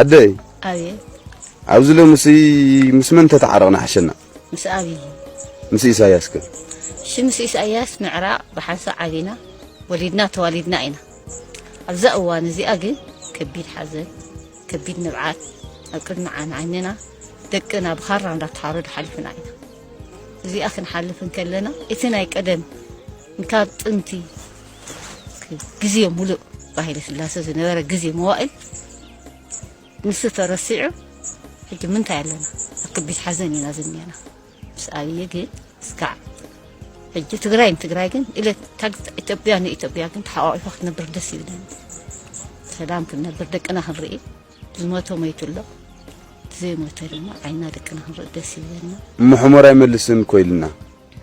ኣደይ ኣብየ ኣብዚ ሎምሲ ምስ መን ተተዓረቕና ሓሸና ምስ ኣብይ ምስ ኢሳያስ ከ እሺ ምስ ኢሳያስ ምዕራቕ ብሓንሳእ ዓቢና ወሊድና ተዋሊድና ኢና ኣብዛ እዋን እዚኣ ግን ከቢድ ሓዘን ከቢድ ንብዓት ኣብ ቅድሚ ዓይንና ደቅና ብኻራ እንዳተሓረዱ ሓሊፍና ኢና እዚኣ ክንሓልፍ እንከለና እቲ ናይ ቀደም ካብ ጥንቲ ግዜ ሙሉእ ብሃይለ ስላሰ ዝነበረ ግዜ መዋእል ንሱ ተረሲዑ ሕጂ ምንታይ ኣለና ኣብ ከቢድ ሓዘን ኢና ዝኒአና ምስ ኣብዪ ግን እስካዕ ሕጂ ትግራይ ንትግራይ ግን ኢለ ኢትዮጵያ ንኢትዮጵያ ግን ተሓቋቂፋ ክትነብር ደስ ይብለኒ ሰላም ክንነብር ደቅና ክንርኢ ዝሞተ ሞይቱ ኣሎ ዘይሞተ ድማ ዓይና ደቅና ክንርኢ ደስ ይብለና ምሕሞር ኣይመልስን ኮይልና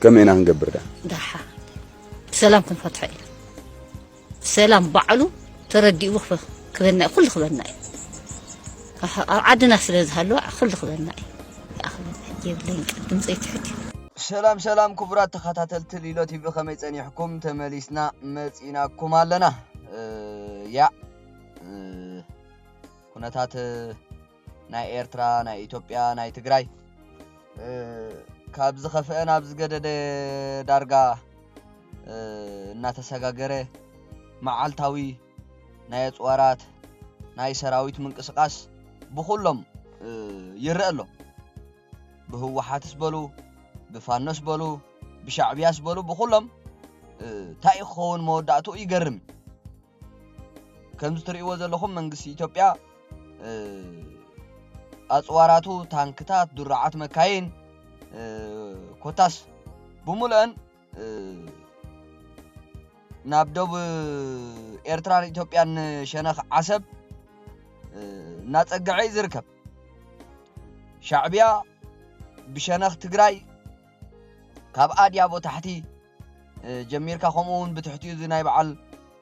ከመይ ኢና ክንገብር ደኣ? ደሓ ብሰላም ክንፈትሖ ኢና ብሰላም ባዕሉ ተረዲኡ ክበና እዩ ኩሉ ክበና እዩ ኣብ ዓድና ስለ ዝሃለወ ኩሉ ክበና እዩ ይኣኽለና የብለይን ቃል ድምፀይ ትሕት እዩ ሰላም ሰላም ክቡራት ተኸታተልቲ ሊሎ ቲቪ ከመይ ጸኒሕኩም ተመሊስና መጺናኩም ኣለና ያ ኩነታት ናይ ኤርትራ ናይ ኢትዮጵያ ናይ ትግራይ ካብ ዝኸፍአ ናብ ዝገደደ ዳርጋ እናተሰጋገረ መዓልታዊ ናይ ኣፅዋራት ናይ ሰራዊት ምንቅስቓስ ብኹሎም ይረአ ኣሎ ብህወሓትስ በሉ ብፋኖስ በሉ ብሻዕብያስ በሉ ብኹሎም እንታይ ክኸውን መወዳእትኡ ይገርም ከምዚ ትርእይዎ ዘለኹም መንግስቲ ኢትዮጵያ ኣፅዋራቱ ታንክታት፣ ድሩዓት መካይን ኮታስ ብምሉአን ናብ ዶብ ኤርትራን ኢትዮጵያን ሸነኽ ዓሰብ እናፀገዐ እዩ ዝርከብ ሻዕብያ ብሸነኽ ትግራይ ካብ ኣድያቦ ታሕቲ ጀሚርካ ከምኡ ውን ብትሕቲኡ እዚ ናይ በዓል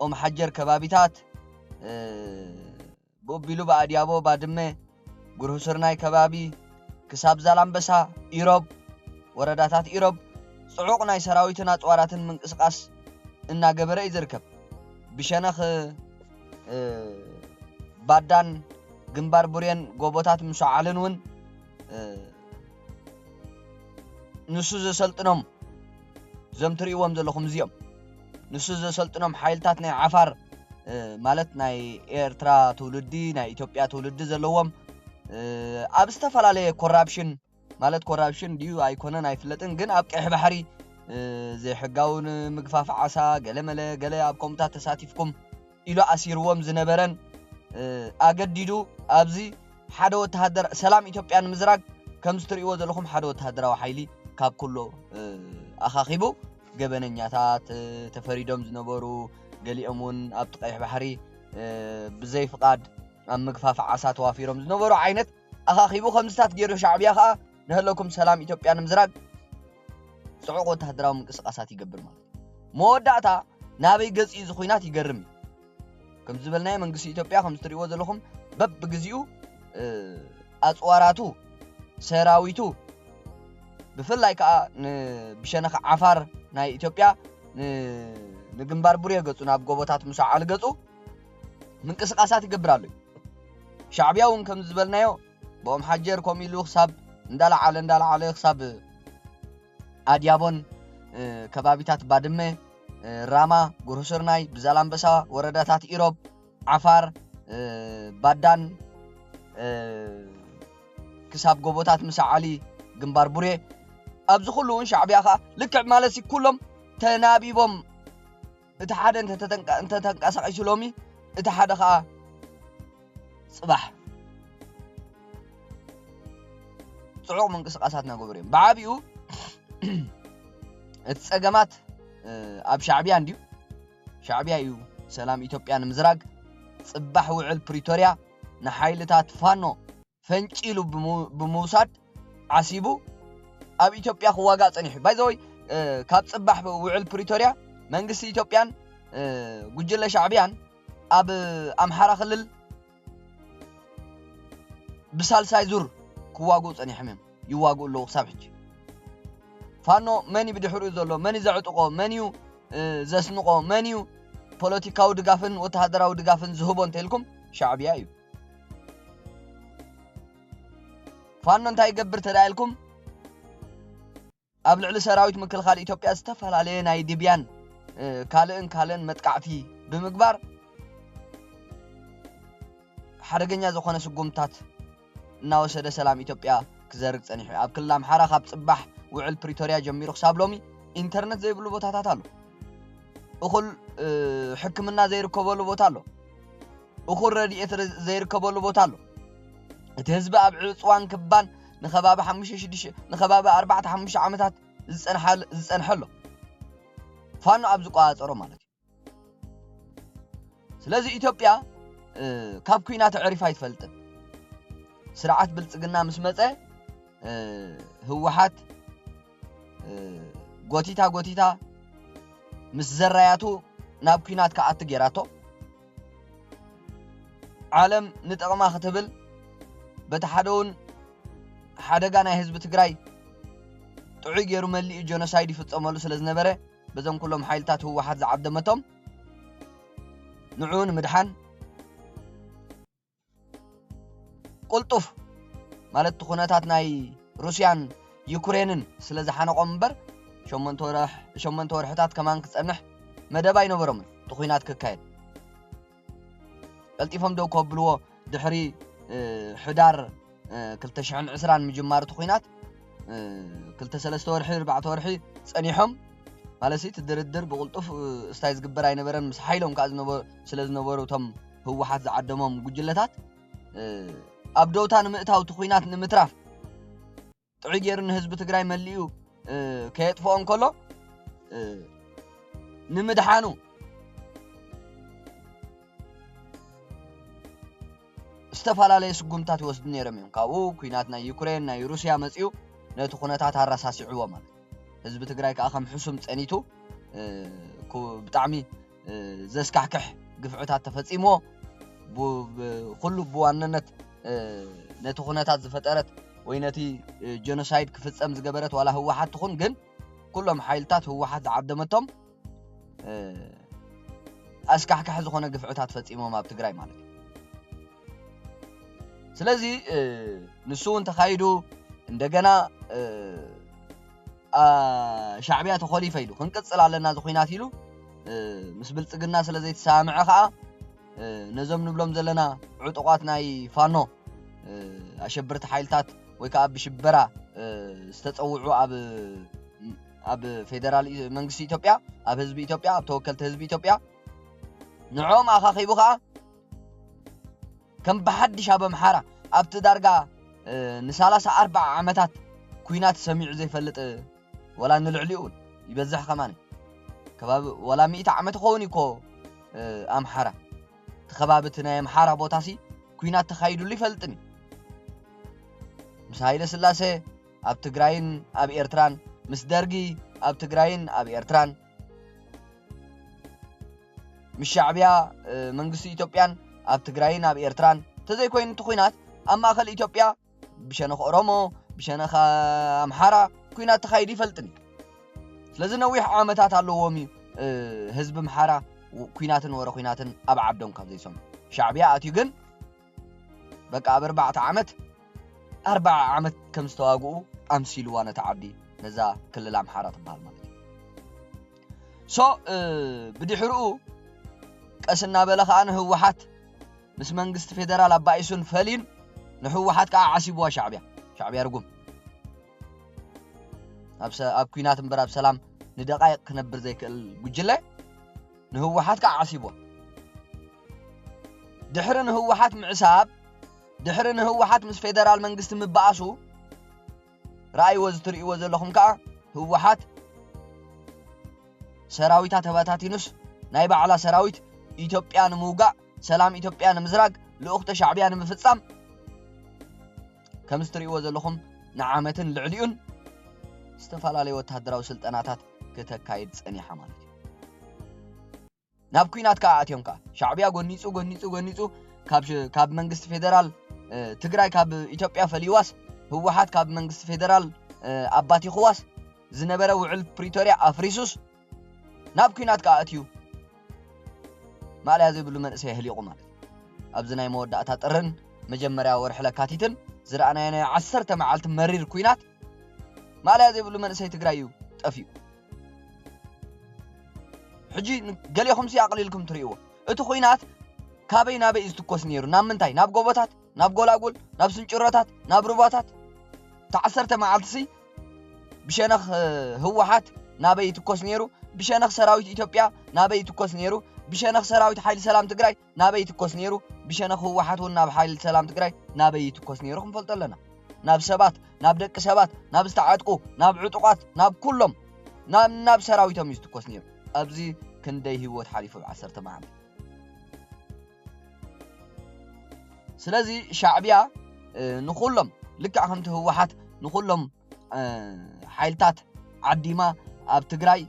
ኦምሓጀር ከባቢታት ብኡ ኣቢሉ ብኣድያቦ ባድመ ጉርሁስርናይ ከባቢ ክሳብ ዛላምበሳ ኢሮብ ወረዳታት ኢሮብ ጽዑቕ ናይ ሰራዊትን ኣጽዋራትን ምንቅስቓስ እናገበረ እዩ ዝርከብ ብሸነኽ ባዳን ግንባር ቡሬን ጎቦታት ምሸዓልን ውን ንሱ ዘሰልጥኖም እዞም ትርእይዎም ዘለኹም እዚኦም ንሱ ዘሰልጥኖም ሓይልታት ናይ ዓፋር ማለት ናይ ኤርትራ ትውልዲ ናይ ኢትዮጵያ ትውልዲ ዘለዎም ኣብ ዝተፈላለየ ኮራፕሽን ማለት ኮራፕሽን ድዩ ኣይኮነን ኣይፍለጥን ግን ኣብ ቀይሕ ባሕሪ ዘይሕጋውን ምግፋፍ ዓሳ ገለመለ ገለ ኣብ ከምኡታት ተሳቲፍኩም ኢሉ ኣሲርዎም ዝነበረን ኣገዲዱ ኣብዚ ሓደ ወተሃደር ሰላም ኢትዮጵያ ንምዝራግ ከምዚ ትርእይዎ ዘለኹም ሓደ ወተሃደራዊ ሓይሊ ካብ ኩሎ ኣኻኺቡ ገበነኛታት ተፈሪዶም ዝነበሩ ገሊኦም እውን ኣብቲ ቀይሕ ባሕሪ ብዘይ ፍቓድ ኣብ ምግፋፍ ዓሳ ተዋፊሮም ዝነበሩ ዓይነት ኣኻኺቡ ከምዝታት ጌሩ ሻዕብያ ከኣ ንሀለኩም ሰላም ኢትዮጵያ ንምዝራግ ጽዑቕ ወተሃደራዊ ምንቅስቓሳት ይገብር ማለት እዩ። መወዳእታ ናበይ ገጽ እዩ ዝኹናት ይገርም እዩ። ከም ዝበልናዮ መንግስቲ ኢትዮጵያ ከም ዝትሪእዎ ዘለኹም በብግዚኡ ኣጽዋራቱ ሰራዊቱ ብፍላይ ከዓ ብሸነኽ ዓፋር ናይ ኢትዮጵያ ንግንባር ቡሬ ገጹ ናብ ጎቦታት ምስ ዓል ገጹ ምንቅስቃሳት ይገብር ኣሎ እዩ ሻዕብያ እውን ከምዚ ዝበልናዮ ብኦም ሓጀር ከምኡ ኢሉ ክሳብ እንዳለዓለ እንዳለዓለ ክሳብ ኣድያቦን ከባቢታት ባድመ ራማ ጉርሱርናይ ብዛላምበሳ ወረዳታት ኢሮብ ዓፋር ባዳን ክሳብ ጎቦታት ምሳዓሊ ግንባር ቡሬ ኣብዚ ኩሉ እውን ሻዕብያ ከዓ ልክዕ ማለት ኩሎም ተናቢቦም እቲ ሓደ እንተተንቀሳቒሱ ሎሚ እቲ ሓደ ከዓ ፅባሕ ፅዑቕ ምንቅስቓሳት እናገበሩ እዮም ብዓብኡ እቲ ፀገማት ኣብ ሻዕብያ እንድዩ ሻዕብያ እዩ ሰላም ኢትዮጵያ ንምዝራግ ፅባሕ ውዕል ፕሪቶርያ ንሓይልታት ፋኖ ፈንጪሉ ብምውሳድ ዓሲቡ ኣብ ኢትዮጵያ ክዋጋእ ጸኒሑ። ባይዘወይ ካብ ጽባሕ ውዕል ፕሪቶርያ መንግስቲ ኢትዮጵያን ጉጅለ ሻዕብያን ኣብ ኣምሓራ ክልል ብሳልሳይ ዙር ክዋግኡ ጸኒሖም እዮም ይዋግኡ ኣለዉ ክሳብ ሕጂ ፋኖ መን እዩ ብድሕሪኡ ዘሎ መን እዩ ዘዕጥቆ መን እዩ ዘስንቆ መን እዩ ፖለቲካዊ ድጋፍን ወተሃደራዊ ድጋፍን ዝህቦ እንተኢልኩም ሻዕብያ እዩ ፋኖ እንታይ ይገብር ተዳ ኢልኩም ኣብ ልዕሊ ሰራዊት ምክልኻል ኢትዮጵያ ዝተፈላለየ ናይ ድብያን ካልእን ካልእን መጥቃዕቲ ብምግባር ሓደገኛ ዝኾነ ስጉምታት እናወሰደ ሰላም ኢትዮጵያ ክዘርግ ጸኒሑ ኣብ ክልል ኣምሓራ ካብ ጽባሕ ውዕል ፕሪቶርያ ጀሚሩ ክሳብ ሎሚ ኢንተርነት ዘይብሉ ቦታታት ኣሎ እኹል ሕክምና ዘይርከበሉ ቦታ ኣሎ እኹል ረድኤት ዘይርከበሉ ቦታ ኣሎ እቲ ህዝቢ ኣብ ዕፅዋን ክባን ንከባቢ ሓሙሽተ ሽዱሽተ ንከባቢ ኣርባዕተ ሓሙሽተ ዓመታት ዝፀንሐ ኣሎ ፋኖ ኣብ ዝቆፃፀሮ ማለት እዩ ስለዚ ኢትዮጵያ ካብ ኩና ተዕሪፍ ኣይትፈልጥን ስርዓት ብልፅግና ምስ መፀ ህወሓት ጎቲታ ጎቲታ ምስ ዘራያቱ ናብ ኩናት ክኣቱ ጌራቶ። ዓለም ንጥቕማ ክትብል በቲ ሓደ እውን ሓደጋ ናይ ህዝቢ ትግራይ ጥዑይ ገይሩ መሊኡ ጀኖሳይድ ይፍፀመሉ ስለ ዝነበረ በዞም ኩሎም ሓይልታት ህወሓት ዝዓደመቶም ንዕኡ ንምድሓን ቁልጡፍ ማለት እቲ ኩነታት ናይ ሩስያን ዩክሬንን ስለ ዝሓነቖም እምበር ሸሞንተ ወርሕታት ከማን ክጸንሕ መደብ ኣይነበሮምን እቲ ኩናት ክካየድ ቀልጢፎም ደው ከብልዎ ድሕሪ ሕዳር ክልተ ሽሕን ዕስራን ምጅማሩ እቲ ኹናት ክልተ ሰለስተ ወርሒ ኣርባዕተ ወርሒ ጸኒሖም ማለት እቲ ድርድር ብቕልጡፍ እስታይ ዝግበር ኣይነበረን ምስ ሓይሎም ከዓ ስለ ዝነበሩ እቶም ህወሓት ዝዓደሞም ጉጅለታት ኣብ ደውታ ንምእታው እቲ ኹናት ንምትራፍ ጥዑይ ገይሩ ንህዝቢ ትግራይ መሊኡ ከየጥፍኦ እንከሎ ንምድሓኑ ዝተፈላለየ ስጉምታት ይወስዱ ነይሮም እዮም ካብኡ ኩናት ናይ ዩክሬን ናይ ሩስያ መፅኡ ነቲ ኩነታት ኣረሳሲዕዎ ማለት ህዝቢ ትግራይ ከዓ ከም ሕሱም ፀኒቱ ብጣዕሚ ዘስካሕክሕ ግፍዕታት ተፈጺምዎ ኩሉ ብዋነነት ነቲ ኩነታት ዝፈጠረት ወይ ነቲ ጀኖሳይድ ክፍጸም ዝገበረት ዋላ ህወሓት ትኹን ግን ኩሎም ሓይልታት ህወሓት ዝዓደመቶም ኣስካሕካሒ ዝኾነ ግፍዕታት ፈጺሞም ኣብ ትግራይ ማለት እዩ ስለዚ ንሱ እውን ተኻይዱ እንደገና ሻዕብያ ተኾሊፈ ኢሉ ክንቅፅል ኣለና እዚ ኩናት ኢሉ ምስ ብልፅግና ስለ ዘይተሰማምዐ ከዓ ነዞም ንብሎም ዘለና ዕጡቋት ናይ ፋኖ ኣሸበርቲ ሓይልታት ወይ ከዓ ብሽበራ ዝተፀውዑ ኣብ ኣብ ፌደራል መንግስቲ ኢትዮጵያ ኣብ ህዝቢ ኢትዮጵያ ኣብ ተወከልቲ ህዝቢ ኢትዮጵያ ንዕኦም ኣኻኺቡ ከዓ ከም ብሓድሽ ኣብ ኣምሓራ ኣብቲ ዳርጋ ንሳላሳ ኣርብዓ ዓመታት ኩናት ሰሚዑ ዘይፈልጥ ወላ ንልዕሊኡ ውን ይበዝሕ ከማን ከባቢ ወላ ሚእቲ ዓመት ይኸውን እኮ ኣምሓራ እቲ ከባቢ እቲ ናይ ኣምሓራ ቦታሲ ኩናት ተኻይድሉ ይፈልጥን እዩ ምስ ሃይለ ስላሴ ኣብ ትግራይን ኣብ ኤርትራን ምስ ደርጊ ኣብ ትግራይን ኣብ ኤርትራን ምስ ሻዕብያ መንግስቲ ኢትዮጵያን ኣብ ትግራይን ኣብ ኤርትራን ተዘይኮይኑ እቲ ኩናት ኣብ ማእኸል ኢትዮጵያ ብሸነኽ ኦሮሞ ብሸነኽ ኣምሓራ ኩናት ተኻይዱ ይፈልጥን እዩ ስለዚ ነዊሕ ዓመታት ኣለዎም እዩ ህዝቢ ምሓራ ኩናትን ወረ ኩናትን ኣብ ዓዶም ካብ ዘይሰምዑ ሻዕብያ ኣትዩ ግን በቃ ኣብ ኣርባዕተ ዓመት ኣርብዓ ዓመት ከም ዝተዋግኡ ኣምሲልዋ ነታ ዓዲ ነዛ ክልል ኣምሓራ ትበሃል ማለት እዩ ሶ ብድሕርኡ ቀስ እናበለ ከዓ ንህወሓት ምስ መንግስቲ ፌደራል ኣባኢሱን ፈሊን ንህወሓት ከዓ ዓሲብዋ ሻዕብያ ሻዕብያ ርጉም ኣብ ኩናት እምበር ኣብ ሰላም ንደቃይቅ ክነብር ዘይክእል ጉጅለ ንህወሓት ከኣ ዓሲቦ። ድሕሪ ንህወሓት ምዕሳብ፣ ድሕሪ ንህወሓት ምስ ፌደራል መንግስቲ ምባኣሱ፣ ረኣይዎ እዚ ትርእይዎ ዘለኹም ከኣ ህወሓት ሰራዊታ ተበታቲኑስ ናይ ባዕላ ሰራዊት ኢትዮጵያ ንምውጋእ ሰላም ኢትዮጵያ ንምዝራግ ልኡኽተ ሻዕብያ ንምፍጻም ከምዚ ትርእይዎ ዘለኹም ንዓመትን ልዕሊኡን ዝተፈላለየ ወተሃደራዊ ስልጠናታት ክተካይድ ጸኒሓ ማለት እዩ ናብ ኩናት ከዓ ኣትዮም ከዓ ሻዕብያ ጎኒፁ ጎኒፁ ጎኒፁ ካብ መንግስቲ ፌደራል ትግራይ ካብ ኢትዮጵያ ፈሊዋስ ህወሓት ካብ መንግስቲ ፌደራል ኣባት ይኽዋስ ዝነበረ ውዕል ፕሪቶርያ ኣፍሪሱስ ናብ ኩናት ከዓ ኣትዩ ማእለያ ዘይብሉ መንእሰይ ህሊቑ ማለት ኣብዚ ናይ መወዳእታ ጥርን መጀመርያ ወርሒ ለካቲትን ዝረኣናዮ ናይ ዓሰርተ መዓልቲ መሪር ኩናት ማእለያ ዘይብሉ መንእሰይ ትግራይ እዩ ጠፊኡ ሕጂ ገሌኹምሲ ኣቕሊልኩም ትርእይዎ እቲ ኹናት ካበይ ናበይ እዩ ዝትኮስ ነይሩ ናብ ምንታይ ናብ ጎቦታት ናብ ጎላጉል ናብ ስንጭሮታት ናብ ሩባታት ተዓሰርተ መዓልትሲ ብሸነኽ ህወሓት ናበይ ይትኮስ ነይሩ ብሸነኽ ሰራዊት ኢትዮጵያ ናበይ ይትኮስ ነይሩ ብሸነኽ ሰራዊት ሓይሊ ሰላም ትግራይ ናበይ ይትኮስ ነይሩ ብሸነኽ ህወሓት እውን ናብ ሓይልት ሰላም ትግራይ ናበይ ይትኮስ ነይሩ ክንፈልጦ ኣለና ናብ ሰባት ናብ ደቂ ሰባት ናብ ዝተዓጥቁ ናብ ዕጡቃት ናብ ኩሎም ናብ ናብ ሰራዊቶም እዩ ዝትኮስ ነይሩ ኣብዚ ክንደይ ህይወት ሓሊፉ ብ ዓሰርተ መዓልቲ ስለዚ ሻዕቢያ ንኹሎም ልክዕ ከምቲ ህወሓት ንኹሎም ሓይልታት ዓዲማ ኣብ ትግራይ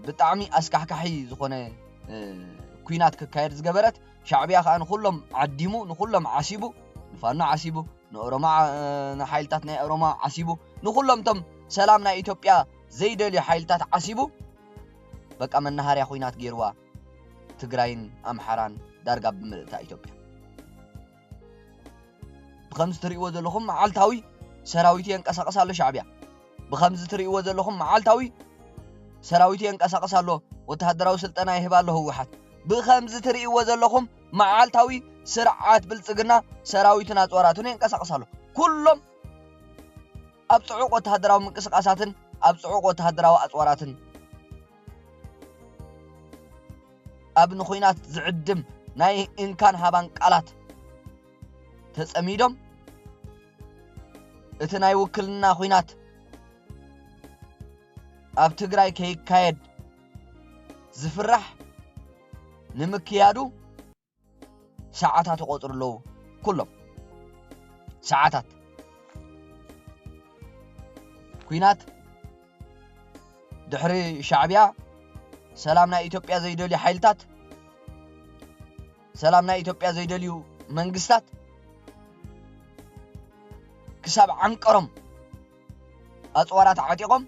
ብጣዕሚ ኣስካሕካሒ ዝኾነ ኩናት ክካየድ ዝገበረት ሻዕብያ ከዓ ንኩሎም ዓዲሙ ንኩሎም ዓሲቡ ንፋኖ ዓሲቡ ንኦሮሞ ንሓይልታት ናይ ኦሮሞ ዓሲቡ ንኩሎም ቶም ሰላም ናይ ኢትዮጵያ ዘይደልዩ ሓይልታት ዓሲቡ በቃ መናሃርያ ኩናት ገይርዋ ትግራይን ኣምሓራን ዳርጋ ብምልእታ ኢትዮጵያ ብኸምዚ ትርእይዎ ዘለኹም መዓልታዊ ሰራዊቱ የንቀሳቕስ ኣሎ ሻዕብያ ብኸምዚ ትርእይዎ ዘለኹም መዓልታዊ ሰራዊቱ የንቀሳቕስ ኣሎ ወተሃደራዊ ስልጠና ይህብ ኣሎ ህወሓት ብኸምዚ ትርእይዎ ዘለኹም መዓልታዊ ስርዓት ብልፅግና ሰራዊቱን ኣፅዋራቱን የንቀሳቕስ ኣሎ ኩሎም ኣብ ፅዑቕ ወተሃደራዊ ምንቅስቃሳትን ኣብ ፅዑቕ ወተሃደራዊ ኣፅዋራትን ኣብ ንኹናት ዝዕድም ናይ እንካን ሃባን ቃላት ተጸሚዶም እቲ ናይ ውክልና ኹናት ኣብ ትግራይ ከይካየድ ዝፍራሕ ንምክያዱ ሰዓታት ይቆጽሩ ኣለዉ ኩሎም ሰዓታት ኩናት ድሕሪ ሻዕብያ ሰላም ናይ ኢትዮጵያ ዘይደልዩ ሓይልታት ሰላም ናይ ኢትዮጵያ ዘይደልዩ መንግስታት ክሳብ ዓንቀሮም ኣፅዋራት ዓጢቖም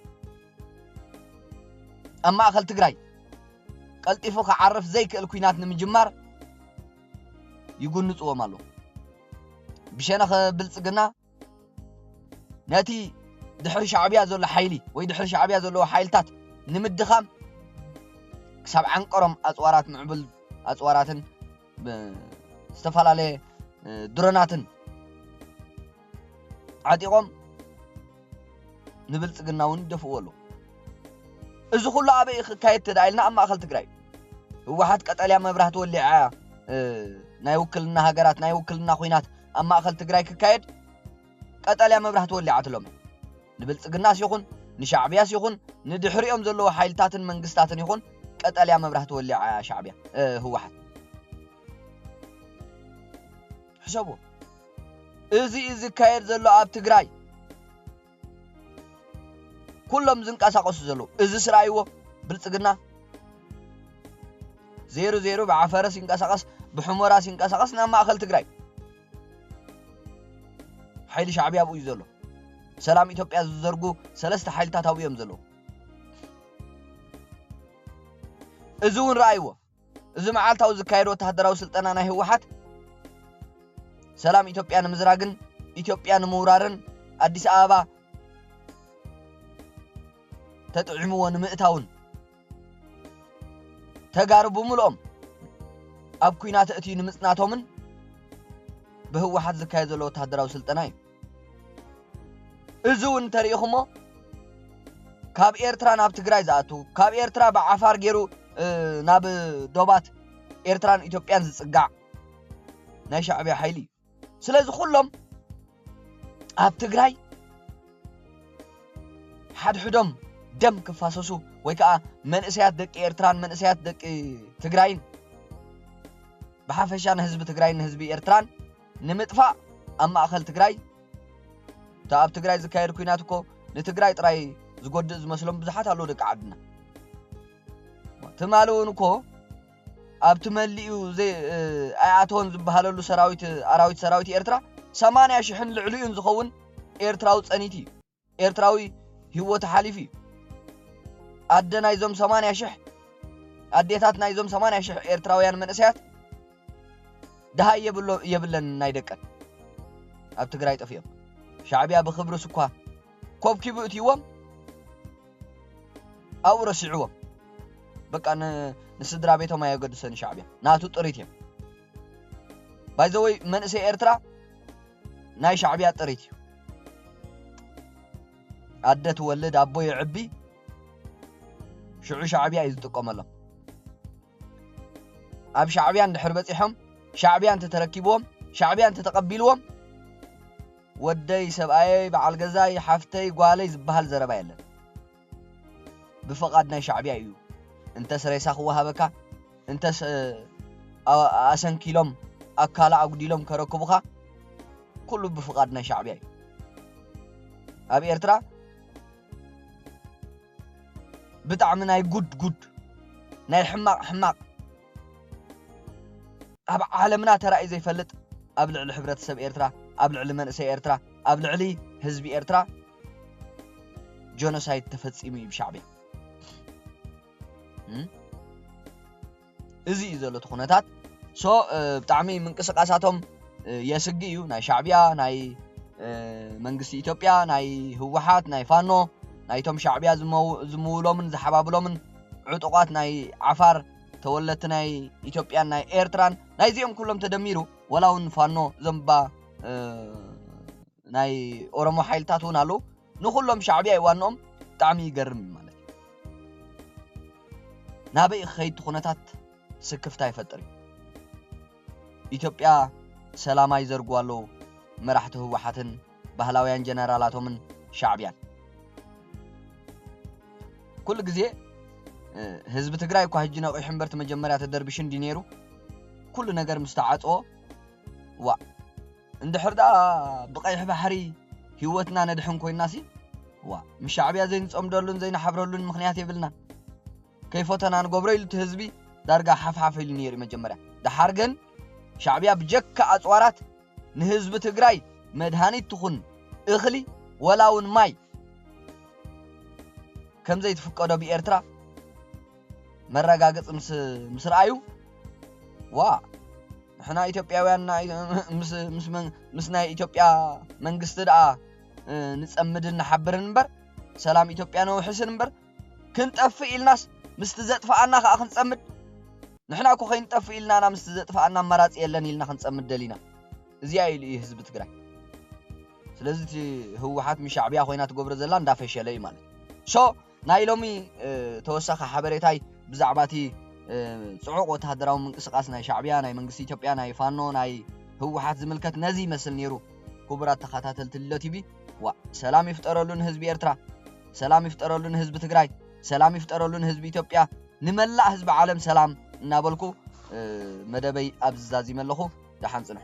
ኣብ ማእኸል ትግራይ ቀልጢፉ ክዓርፍ ዘይክእል ኩናት ንምጅማር ይጉንፅዎም ኣሎ። ብሸነኸ ብልፅግና ነቲ ድሕሪ ሻዕብያ ዘሎ ሓይሊ ወይ ድሕሪ ሻዕብያ ዘለዎ ሓይልታት ንምድኻም ክሳብ ዓንቀሮም ኣፅዋራት ምዕቡል ኣፅዋራትን ዝተፈላለየ ድሮናትን ዓጢቖም ንብልፅግና እውን ይደፍእዎ ኣለዉ እዚ ኩሉ ኣበይ ክካየድ ተዳ ኢልና ኣብ ማእኸል ትግራይ ህወሓት ቀጠልያ መብራህቲ ወሊዓ ናይ ውክልና ሃገራት ናይ ውክልና ኩናት ኣብ ማእኸል ትግራይ ክካየድ ቀጠልያ መብራህቲ ወሊዓትሎም። ንብልጽግናስ ይኹን ንሻዕብያስ ይኹን ንድሕሪኦም ዘለዉ ሓይልታትን መንግስታትን ይኹን ቀጠልያ መብራህቲ ወሊዓ እያ ሻዕብያ፣ ህወሓት። ሕሰብዎ። እዚ እዩ ዝካየድ ዘሎ ኣብ ትግራይ። ኩሎም ዝንቀሳቐሱ ዘለዉ። እዝስ ርኣይዎ ብልጽግና። ዜሩ ዜሩ ብዓፈርስ ይንቀሳቐስ ብሑሞራስ ይንቀሳቐስ ናብ ማእኸል ትግራይ። ሓይሊ ሻዕብያ ኣብኡ እዩ ዘሎ። ሰላም ኢትዮጵያ ዝዘርጉ ሰለስተ ሓይልታት ኣብኡ እዮም ዘለዉ። እዚ እውን ረኣይዎ። እዚ መዓልታዊ ዝካየድ ወተሃደራዊ ስልጠና ናይ ህወሓት ሰላም ኢትዮጵያ ንምዝራግን ኢትዮጵያ ንምውራርን ኣዲስ ኣበባ ተጥዒምዎ ንምእታውን ተጋሩ ብምልኦም ኣብ ኩናት እትዩ ንምፅናቶምን ብህወሓት ዝካየድ ዘሎ ወተሃደራዊ ስልጠና እዩ እዚ እውን እንተሪኢኹሞ ካብ ኤርትራ ናብ ትግራይ ዝኣቱ ካብ ኤርትራ ብዓፋር ገይሩ ናብ ዶባት ኤርትራን ኢትዮጵያን ዝፅጋዕ ናይ ሻዕብያ ሓይሊ እዩ ስለዚ ኩሎም ኣብ ትግራይ ሓድሕዶም ደም ክፋሰሱ ወይ ከዓ መንእሰያት ደቂ ኤርትራን መንእሰያት ደቂ ትግራይን ብሓፈሻ ንህዝቢ ትግራይን ንህዝቢ ኤርትራን ንምጥፋእ ኣብ ማእኸል ትግራይ እታ ኣብ ትግራይ ዝካየድ ኩናት እኮ ንትግራይ ጥራይ ዝጎድእ ዝመስሎም ብዙሓት ኣለዉ ደቂ ዓድና ትማሊ እውን እኮ ኣብቲ መሊኡ ኣይኣተወን ዝበሃለሉ ሰራዊት ኣራዊት ሰራዊት ኤርትራ ሰማንያ ሽሕን ልዕሊኡን ዝኸውን ኤርትራዊ ጸኒት እዩ። ኤርትራዊ ህይወቱ ሓሊፉ እዩ። ኣደ ናይዞም ሰማንያ ሽሕ ኣዴታት ናይዞም ሰማንያ ሽሕ ኤርትራውያን መንእሰያት ድሃይ የብሎ የብለን ናይ ደቀን ኣብ ትግራይ ጠፊኦም ሻዕቢያ ብክብርስ እኳ ኮብኪቡ እትይዎም ኣብኡ ረሲዕዎም በቃ ንስድራ ቤቶም ኣየገድሰን ሻዕብያ ናቱ ጥሪት እዮም ባይዘወይ መንእሰይ ኤርትራ ናይ ሻዕብያ ጥሪት እዩ ኣደ ትወልድ ኣቦ የዕቢ ሽዑ ሻዕብያ እዩ ዝጥቀመሎም ኣብ ሻዕብያ እንድሕር በጺሖም ሻዕብያ እንተ ተረኪብዎም ሻዕብያ እንተ ተቐቢልዎም ወደይ ሰብኣየይ በዓል ገዛይ ሓፍተይ ጓለይ ዝበሃል ዘረባ የለን ብፍቓድ ናይ ሻዕብያ እዩ እንተስ ሬሳ ክወሃበካ እንተስ ኣሰንኪሎም ኣካላ ኣጉዲሎም ከረክቡኻ ኩሉ ብፍቓድ ናይ ሻዕብያ እዩ ኣብ ኤርትራ ብጣዕሚ ናይ ጉድ ጉድ ናይ ሕማቅ ሕማቅ ኣብ ዓለምና ተራእዩ ዘይፈልጥ ኣብ ልዕሊ ሕብረተሰብ ኤርትራ ኣብ ልዕሊ መንእሰይ ኤርትራ ኣብ ልዕሊ ህዝቢ ኤርትራ ጆኖሳይድ ተፈጺሙ እዩ ብሻዕብያ። እዚ እዩ ዘሎ እቲ ኩነታት ሶ ብጣዕሚ ምንቅስቃሳቶም የስጊ እዩ ናይ ሻዕቢያ ናይ መንግስቲ ኢትዮጵያ ናይ ህወሓት ናይ ፋኖ ናይቶም ሻዕቢያ ዝምውሎምን ዝሓባብሎምን ዕጡቋት ናይ ዓፋር ተወለድቲ ናይ ኢትዮጵያን ናይ ኤርትራን ናይዚኦም ኩሎም ተደሚሩ ወላ እውን ፋኖ ዘንባ ናይ ኦሮሞ ሓይልታት እውን ኣለዉ ንኩሎም ሻዕብያ እዩ ዋንኦም ብጣዕሚ ይገርም እዩ ማለት እዩ ናበይ ክኸይድ ኩነታት ስክፍታ ይፈጥር እዩ ኢትዮጵያ ሰላማ ይዘርጉ ኣለዉ መራሕቲ ህወሓትን ባህላውያን ጀነራላቶምን ሻዕብያን ኩሉ ግዜ ህዝቢ ትግራይ እኳ ህጂ ነቂሑ እምበር መጀመርያ ተደርቢሹ እንዲ ነይሩ ኩሉ ነገር ምስ ተዓፅዎ ዋ እንድሕር ደኣ ብቀይሕ ባሕሪ ሂወትና ነድሕን ኮይናሲ ዋእ ምስ ሻዕብያ ዘይንጸምደሉን ዘይንሓብረሉን ምኽንያት የብልናን። ከይፎተና ንገብሮ ኢሉ እቲ ህዝቢ ዳርጋ ሓፍሓፍ ኢሉ ነይሩ'ዩ መጀመርያ። ደሓር ግን ሻዕብያ ብጀካ ኣጽዋራት ንህዝቢ ትግራይ መድሃኒት ትኹን እኽሊ ወላ'ውን ማይ ከምዘይትፍቀዶ ብኤርትራ መረጋግጽ ምስ ምስ ረኣዩ ዋእ ንሕና ኢትዮጵያውያን ናይ ምስ ምስ መን- ምስ ናይ ኢትዮጵያ መንግስቲ ደኣ እ፣ ንጸምድን ንሓብርን እምበር ሰላም ኢትዮጵያ ነውሕስን እምበር ክንጠፍእ ኢልናስ ምስቲ ዘጥፍኣና ከኣ ክንጸምድ ንሕና እኮ ከይንጠፍእ ኢልና ኢና ምስቲ ዘጥፍኣና ኣማራጺ የለን ኢልና ክንጸምድ ደሊና እዚኣ ኢሉ እዩ ህዝቢ ትግራይ ስለዚ እቲ ህወሓት ምስ ሻዕብያ ኮይና ትገብሮ ዘላ እንዳፈሸለ እዩ ማለት ሶ ናይ ሎሚ ተወሳኺ ሓበሬታይ ብዛዕባ እቲ ጽዑቕ ወተሃደራዊ ምንቅስቓስ ናይ ሻዕብያ፣ ናይ መንግስቲ ኢትዮጵያ፣ ናይ ፋኖ፣ ናይ ህወሓት ዝምልከት ነዚ ይመስል ነይሩ። ክቡራት ተኻታተልቲ ልሎ ቲቪ ዋእ ሰላም ይፍጠረሉ ንህዝቢ ኤርትራ ሰላም ይፍጠረሉ ንህዝቢ ትግራይ ሰላም ይፍጠረሉ ንህዝቢ ኢትዮጵያ ንመላእ ህዝቢ ዓለም ሰላም እናበልኩ መደበይ ኣብዚ ዛዚመ ኣለኹ ደሓን ጽንሑ